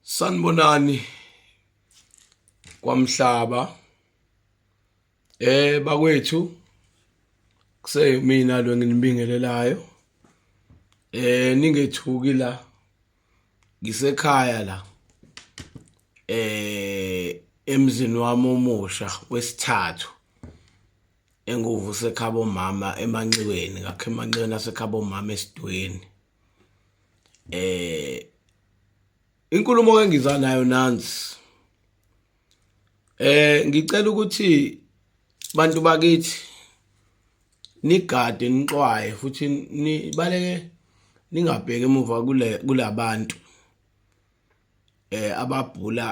sanibonani kwamhlaba eh bakwethu kuseyimina lo nginibingelelayo eh ningethuki la ngisekhaya la eh emzini wami omusha wesithathu enguvu sekhabo mama emanxiweni ngakhe emanxiweni asekhabo mama esidweni eh inkulumo engiza nayo nansi eh ngicela ukuthi bantu bakithi nigade nixwaye futhi nibaleke ningabheki emuva kule kulabantu eh ababhula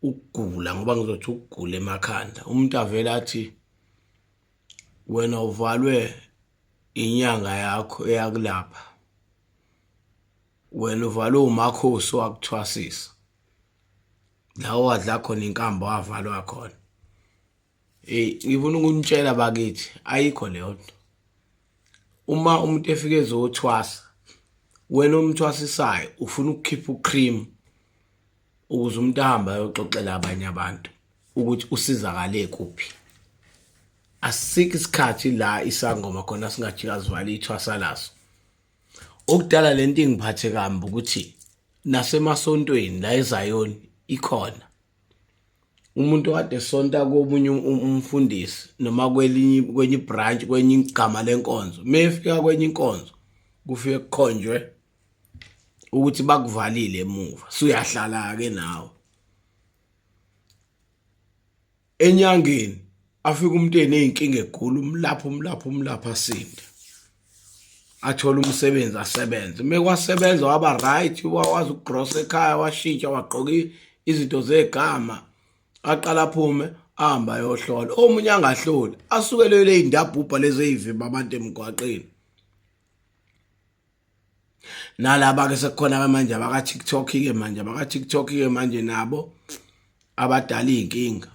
ukugula ngoba ngizothi ukugula emakhanda umuntu avela athi wena uvalwe inyanga yakho eyakulapha wena uvalwe umakhosi wakuthwasisa la wadla khona inkambo wavalwa khona eyi ngifuna ukunitshela bakithi ayikho leyo nto uma umuntu efike ezothwasa wena umthwasisayo ufuna ukukhipha ucream ukuze umuntu ahambe ayoxoxela abanye abantu ukuthi usizakale kuphi asikho isikhathi la isangoma khona singajika sivale ithwasa laso okudala le nto ingiphathe kambi ukuthi nasemasontweni la ezayoni ikhona umuntu kade sonta komunye um-, um-, umfundisi noma kwelinye kwenye branch kwenye igama lenkonzo mefika kwenye inkonzo kufike kukhonjwe ukuthi bakuvalile emuva suyahlala ke nawe enyangeni afika umuntu eneyinkinga egula umlapha umlapha umlapha asinde athola umsebenzi asebenze uma kwasebenza waba right wawazi ukugrosa ekhaya washintsha wagqoka izinto zegama aqala aphume ahamba ayohlola omunye angahloli asukelele iy'ndabhubha lezi ey'vimba abantu emgwaqeni nalaba ke sekukhona ke manje abaka TikTok ke manje abaka TikTok ke manje nabo abadala izinkinga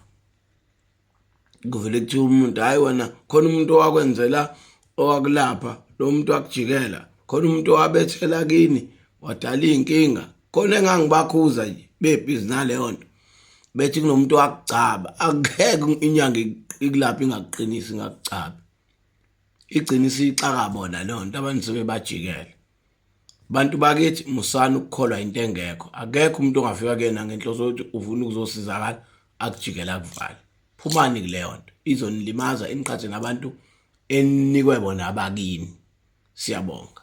kuvele kuthi umuntu hayi wena khona umuntu owakwenzela owakulapha lo muntu wakujikela khona umuntu owabethela kini wadala izinkinga khona engangibakhuza nje bebhizi naleyo nto bethi kunomuntu wakugcaba akukeke inyanga ikulapha ingakuqinisi ngakucabi igciniso ixaka bona leyo nto abantu sebebajikele bantu bakithi musani ukukholwa into engekho akekho umuntu ongafika kuyena ngenhloso yokuthi ufuna ukuzosizakala akujikela akuvale phumani kuleyo nto izonilimaza iniqhathe nabantu enikwe bona abakini siyabonga